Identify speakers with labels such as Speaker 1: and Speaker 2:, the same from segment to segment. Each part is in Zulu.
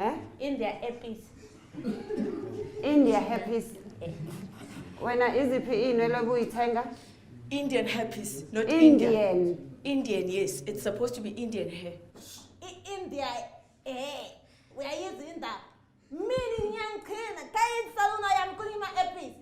Speaker 1: Eh?
Speaker 2: In their earpiece. In their earpiece. Wena iziphi iy'nwele obuyithenga? Indian
Speaker 3: herpes, not Indian. Indian.
Speaker 2: Indian, yes.
Speaker 3: It's supposed to be Indian hair. I- In their
Speaker 1: hair. Uyayizinda. Mina ngiyangichina. Kayini salona yami kunyima earpiece.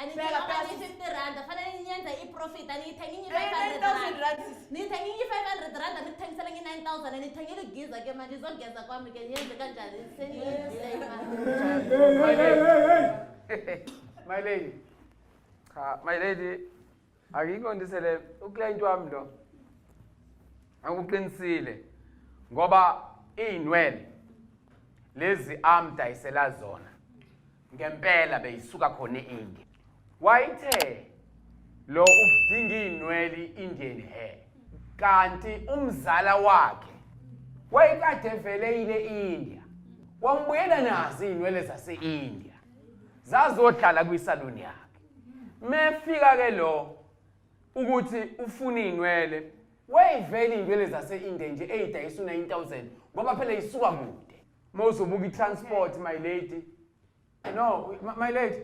Speaker 1: Anithengi Phela, phela, sis. 50 randa fanele ngiyenze i-profit aniyithengi Eh, ngi-500 9,000 randa rand sis. niyithengi ngi-500 randa nithengisele ngi-9000 anithengile igiza ke manje izogeza kwami ke niyenze kanjani seniyidile imali My lady. My
Speaker 4: lady. Cha, my lady, Angiqondise le uclient wami lo. Akuqinisile ngoba izinwele lezi amdayisela zona ngempela beyisuka khona eIndia. Wayithe lo udinga izinwele Indian hair kanti umzala wakhe wayekade vele ile India wambuyela nazo izinwele zaseIndia zazohlala kwisaluni yakhe mefika ke lo ukuthi ufuna izinwele wayivela izinwele zase-India nje eyidayisa u-9000 ngoba phela isuka kude mawuzobuka i-transport my lady no my lady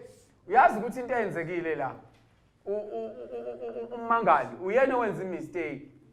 Speaker 4: uyazi ukuthi into eyenzekile la ummangali uyena owenza imistake